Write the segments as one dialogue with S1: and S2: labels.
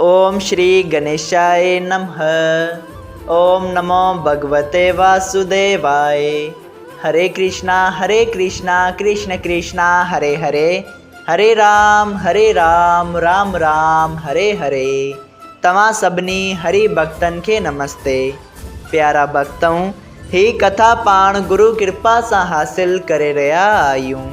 S1: اوم شري گنيشائي نمه اوم نمو ڀڳوتي واسوديواي هري ڪرشنا هري ڪرشنا ڪرشنا ڪرشنا هري هري هري رام هري رام رام رام هري هري توهان سڀني هري ڀڳتن کي نمستي پيارا ڀڳتؤن هي ڪٿا پاڻ گرو ڪرپا سان حاصل ڪري رهيا آهيون.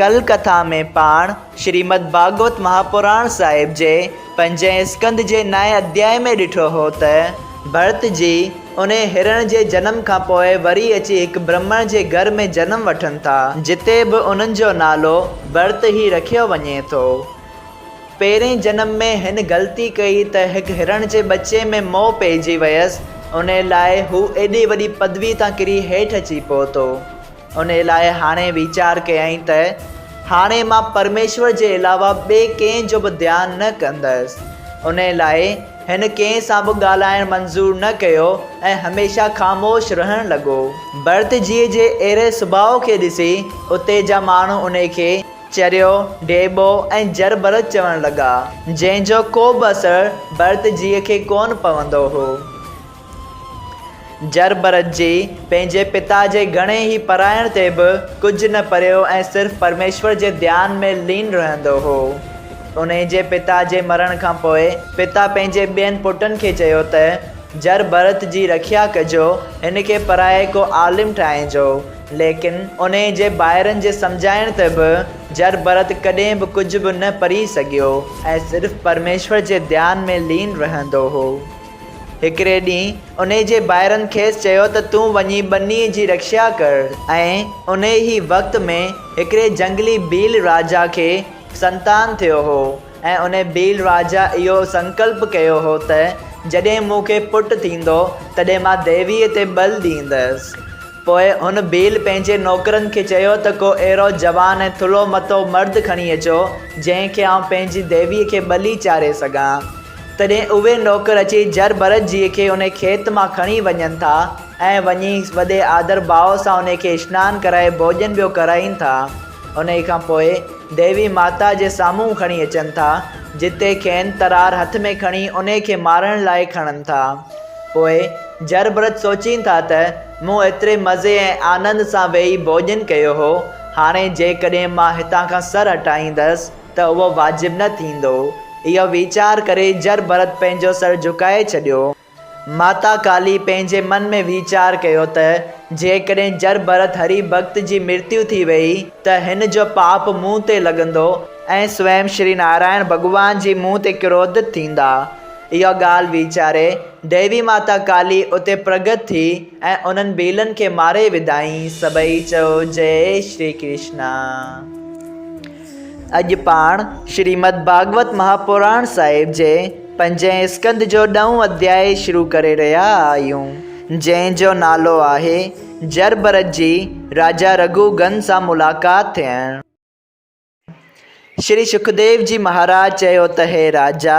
S1: ڪلڪٿا ۾ پاڻ شريمد ڀاڳوت مهاپراڻ صاحب جي پنجين اسڪند جي نائين اڌياء ۾ ڏٺو هو ته ڀرت جي انهي هرڻ جي جنم کان پوء وري اچي هڪ برهمڻ جي گهر ۾ جنم وٺن ٿا جتي به انهن جو نالو ڀرت هي رکيو وڃي ٿو. پهرين جنم ۾ هن غلطي ڪئي ته هڪ هرڻ جي ٻچي ۾ موهه پئجي ويس انهي لاء هو ايڏي وڏي پدوي تان ڪري هيٺ اچي پهتو. ان لاء هاڻي ويچار ڪيائين ته هاڻي مان پرميشور جي علاوه ٻئي ڪنهن جو به ڌيان نه ڪندس. ان لاء هن ڪنهن سان به ڳالهائڻ منظور نه ڪيو ۽ هميشه خاموش رهڻ لڳو. ڀرت جيء جي اهڙي سڀاء کي ڏسي اتي جا ماڻهو ان کي چريو، ڍيٻو ۽ جر ڀرت چوڻ لڳا، جنهن جو ڪو به اثر ڀرت جيء کي ڪونه پوندو هو. جربرت جي پنهنجي پتا جي گهڻي ئي پرائڻ تي به ڪجهه نه پريو ۽ صرف پرميشور جي ڌيان ۾ لين رهندو هو. انهي جي پتا جي مرڻ کان پوء پتا پنهنجي ٻين پٽن کي چيو ته، جربرت جي رکيا ڪجو، هن کي پرائي ڪو عالم ٺاهينجو. ليڪن انهي جي ڀائرن جي سمجهائڻ تي به جربرت ڪڏهن به ڪجهه به نه پري سگهيو ۽ صرف پرميشور جي ڌيان ۾ لين رهندو هو. هڪڙي ڏينهن انهي جي ڀائرن کيس چيو ته تون وڃي ٻنيء جي رکشا ڪر ۽ انهي ئي وقت ۾ هڪڙي جهنگلي ڀيل راجا کي سنتان ٿيو هو ۽ انهي ڀيل راجا اهو سنڪلپ ڪيو هو ته جڏهن مون کي پٽ ٿيندو تڏهن مان ديويء تي ٻل ڏيندس پوء هن ڀيل پنهنجي نوڪرن کي چيو ته ڪو اهڙو جوان ۽ ٿلهو مٿو مرد کڻي اچو جنهن کي آئون پنهنجي ديويء کي ٻلي چاري سگهان. تڏهن اهي نوڪر اچي جر ڀرت جيء کي انهي کيت مان کڻي وڃن ٿا ۽ وڃي وڏي آڌر ڀاء سان انهي کي اشنان ڪرائي ڀوڄن ٻيو ڪرائين ٿا. انهي کان پوء ديوي ماتا جي سامهون کڻي اچن ٿا، جتي کين ترار هٿ ۾ کڻي انهي کي مارڻ لاء کڻن ٿا. پوء جر ڀرت سوچين ٿا ته مون ايتري مزي ۽ آنند سان ويهي ڀوڄن ڪيو هو، هاڻي جيڪڏهن مان هتان کان سر هٽائيندس، ته اهو واجب نه ٿيندو. اهو ويچار ڪري جر ڀرت پنهنجو سر جهڪائي ڇڏيو. ماتا ڪالي پنهنجي من ۾ ويچار ڪيو ته جيڪڏهن جر ڀرت هري ڀڳت جي مرتيو ٿي ويئي ته هن جو پاپ مون تي لڳندو ۽ سوئم شري نارائڻ ڀڳوان جي مون تي ڪروڌت ٿيندا. اها ڳالهه ويچاري ديوي ماتا ڪالي اتي پرگٽ ٿي ۽ انهن ڀيلن کي ماري وڌائين. سڀئي چئو جئي شري ڪرشنا. اڄ پاڻ شريمد ڀاڳوت مهاپراڻ صاحب جي پنجين اسڪنڌ جو ڏهون اڌياء شروع ڪري رهيا آهيون، جنهن جو نالو آهي، جر ڀرت جي راجا رگهو گن سان ملاقات ٿيڻ. شري شڪديو جي مهاراج چيو ته هي راجا!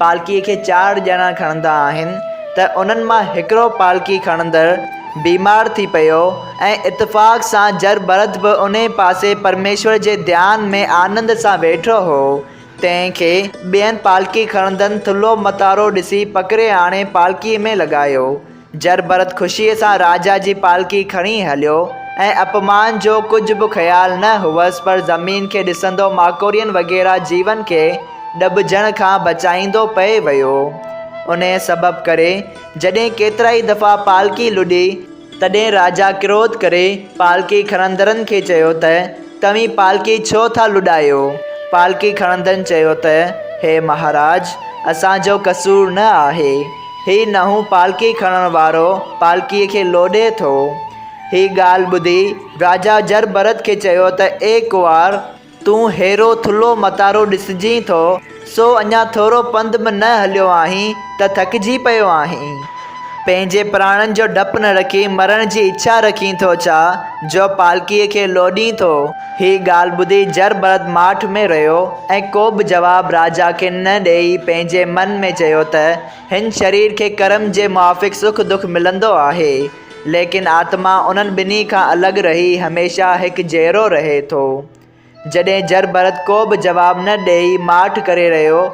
S1: پالڪيء کي چار ڄڻا کڻندا آهن ته انهن مان هڪڙو پالڪي کڻندڙ بيمار ٿي پيو ۽ اتفاق سان جر ڀرت به انهيء پاسي پرميشور جي ڌيان ۾ آنند سان ويٺو هو، تنهن کي ٻين پالڪي کڻندن ٿلهو متارو ڏسي پڪڙي آڻي پالڪيء ۾ لڳايو. جرڀرت خوشيء سان راجا جي پالڪي کڻي هليو ۽ اپمان جو ڪجهه به خيال نه هئس پر زمين کي ڏسندو ماڪوڙين وغيره جيون کي ڏٻجڻ کان بچائيندو پئي ويو. انهيء سبب ڪري جڏهن ڪيترائي دفعا پالڪي لڏي، تڏهن راجا ڪروڌ ڪري پالڪي کڻندڙن کي چيو ته توهين پالڪي ڇو ٿا لڏايو؟ پالڪي کڻندڙن چيو ته هي مهاراج! اسان جو قصور نه آهي. هي نئون پالڪي کڻڻ وارو پالڪيء کي لوڏي ٿو. هي ڳالهه ٻڌي راجا جر ڀرت کي چيو ته اي ڪنوار! تون ههڙو ٿلهو متارو ڏسجين ٿو، سو اڃا ٿورو پنڌ به نه هليو آهين ته ٿڪجي پيو آهين. پنهنجي پراڻن جو ڊپ نه رکي مرڻ جي اڇا رکين ٿو ڇا، جو پالڪيء کي لوڏين ٿو؟ هيء ڳالهه ٻڌي جر برد ماٺ ۾ رهيو ۽ ڪو به جواب راجا کي نه ڏيئي پنهنجي من ۾ چيو ته هن شرير کي ڪرم جي موافق سک دک ملندو آهي، ليڪن آتما انهن ٻنهي کان الڳ رهي هميشه هڪ جهڙو رهي ٿو. جڏهن جر برد ڪو به جواب نه ڏيئي ماٺ ڪري رهيو،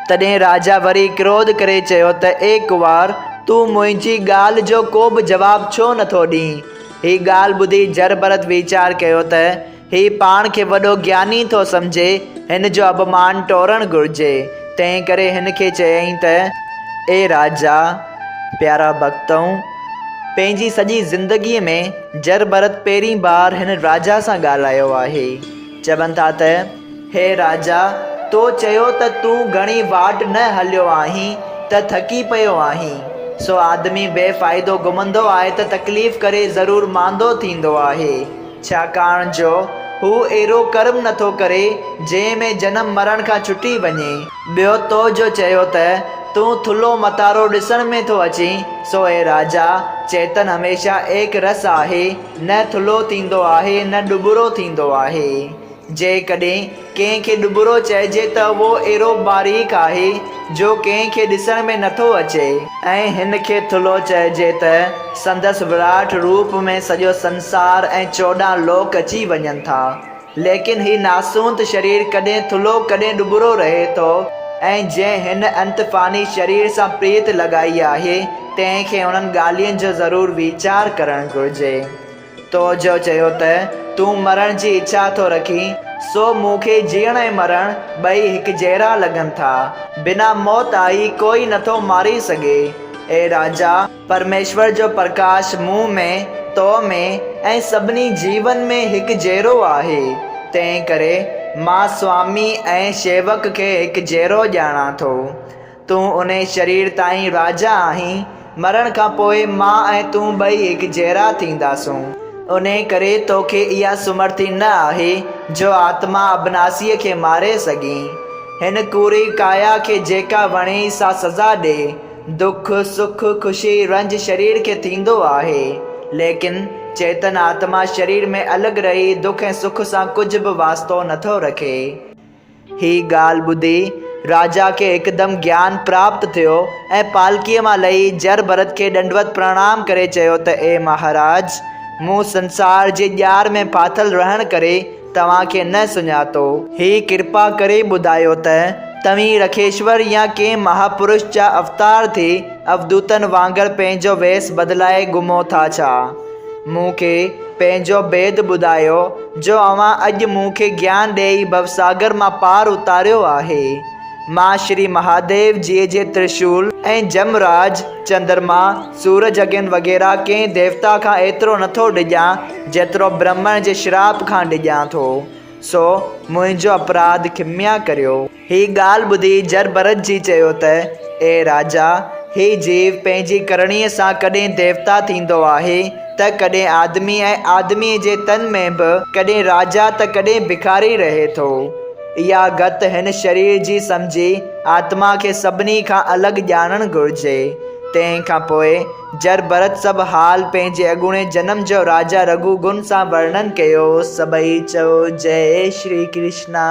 S1: تڏهن راجا وري ڪروڌ ڪري چيو ته اي ڪنوار! تون منهنجي ڳالهه جو ڪو به جواب ڇو نٿو ڏين؟ هي ڳالهه ٻڌي جر ڀرت ويچار ڪيو ته هي پاڻ کي وڏو گياني ٿو سمجهي، هن جو اڀمان ٽورڻ گهرجي. تنهن ڪري هن کي چيائين ته، اي راجا! پيارا ڀڳتؤ! پنهنجي سڄي زندگيء ۾ جر ڀرت پهرين بار هن راجا سان ڳالهايو آهي. چون ٿا ته، هي راجا! تو چيو ته تون گهڻي واٽ نه هليو آهين ته ٿڪي پيو آهين. سو آدمي بي فائدو گهمندو آهي ته تڪليف ڪري ضرور ماندو ٿيندو آهي، ڇاڪاڻ جو هو اهڙو ڪرم نٿو ڪري جنهن ۾ جنم مرڻ کان ڇٽي وڃي. ٻيو تو جو چيو ته، تون ٿلهو متارو ڏسڻ ۾ ٿو اچين، سو هي راجا! چيتن هميشه ايڪ رس آهي، نه ٿلهو ٿيندو آهي نه ڏٻرو ٿيندو آهي. جيڪڏهن ڪنهن کي ڏٻرو چئجي ته اهو اهڙو باريڪ آهي جو ڪنهن کي ڏسڻ ۾ نه ٿو اچي. ۽ هن کي ٿلهو چئجي ته سندس وراٺ روپ ۾ سڄو سنسار ۽ چوڏهن لوڪ اچي وڃن ٿا. ليڪن هي ناسوند شرير ڪڏهن ٿلهو ڪڏهن ڏٻرو رهي ٿو ۽ جنهن هن انت فاني شرير سان پريت لڳائي آهي تنهن کي انهن ڳالهين جو ضرور ويچار ڪرڻ گهرجي. تو جو چيو ته تون مرڻ جي اڇا ٿو رکين سو مون کي جيئڻ ۽ مرڻ ٻئي هڪجهڙا لڳن ٿا. بنا موت آئي ڪوئي نٿو ماري سگهي. اي راجا! پرميشور جو پرڪاش مون ۾، تو ۾، ۽ سڀني جيون ۾ هڪ جهڙو آهي. تنهن ڪري مان سوامي ۽ شيوڪ کي هڪ جهڙو ڄاڻان ٿو. تون انهي شرير تائين راجا آهين، مرڻ کان پوء مان ۽ تون ٻئي هڪ جهڙا ٿينداسون. انهي ڪري تو کي اها سمرٿي نه آهي جو آتما ابناسيء کي ماري سگهين. هن ڪوڙي ڪايا کي جيڪا وڻيئي سا سزا ڏي، دک، سک، خوشي، رنج شرير کي ٿيندو آهي، ليڪن چيتن آتما شرير ۾ الڳ رهي دک ۽ سک سان ڪجهه به واسطو نٿو رکي. هي ڳالهه ٻڌي راجا کي هڪدم گيان پراپت ٿيو ۽ پالڪيء مان لهي جر ڀرت کي ڏنڊوت پرڻام ڪري چيو ته اي مهاراج! مون سنسار جي ڄار ۾ ڦاٿل رهڻ ڪري توهان کي نه سڃاتو. هي ڪرپا ڪري ٻڌايو ته توهين رکيشور يا ڪنهن مهاپرش جا اوتار ٿي اوڌوتن وانگر پنهنجو ويس بدلائي گهمو ٿا ڇا؟ مون کي پنهنجو ڀيد ٻڌايو جو اوهان اڄ مون کي گيان ڏيئي ڀوساگر مان پار اتاريو آهي. مان شري مهاديو جيء جي ترشول ۽ جم راج، چندرما، سورج اگين وغيره ڪنهن ديوتا کان ايترو نٿو ڊڄان، جيترو برهمڻ جي شراپ کان ڊڄان ٿو، سو منهنجو اپراڌ کميا ڪريو. هيء ڳالهه ٻڌي جرڀرت جي چيو ته، اي راجا! هيء جيو پنهنجي ڪرڻيء سان ڪڏهن ديوتا ٿيندو آهي ته ڪڏهن آدمي ۽ آدميء جي تن ۾ به ڪڏهن راجا ته ڪڏهن ڀکاري رهي ٿو. اها گت هن شرير جي سمجهي آتما کي سڀني کان الڳ ڄاڻڻ گهرجي. تنهن کان پوء جر ڀرت سڀ حال پنهنجي اڳوڻي جنم جو راجا رگهو گن سان ورڻن ڪيو. سڀئي چئو جئي شري ڪرشنا.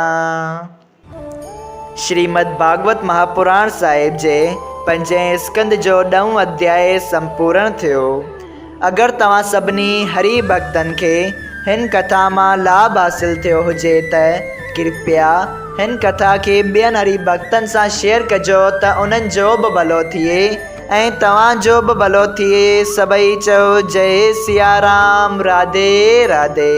S1: شريمد ڀاڳوت مهاپراڻ صاحب جي پنجين اسڪند جو ڏهون اڌياء سمپورڻ ٿيو. اگر توهان سڀني هري ڀڳتن کي هن ڪٿا مان لاڀ حاصل ٿيو هجي ته ڪرپيا هن ڪٿا کي ٻين هري ڀڳتن سان شيئر ڪجو ته انهن جو به ڀلو ٿئي. ۽ توهان جو به ڀلو ٿئي. سڀئي چئو جئي سيارام راڌي راڌي.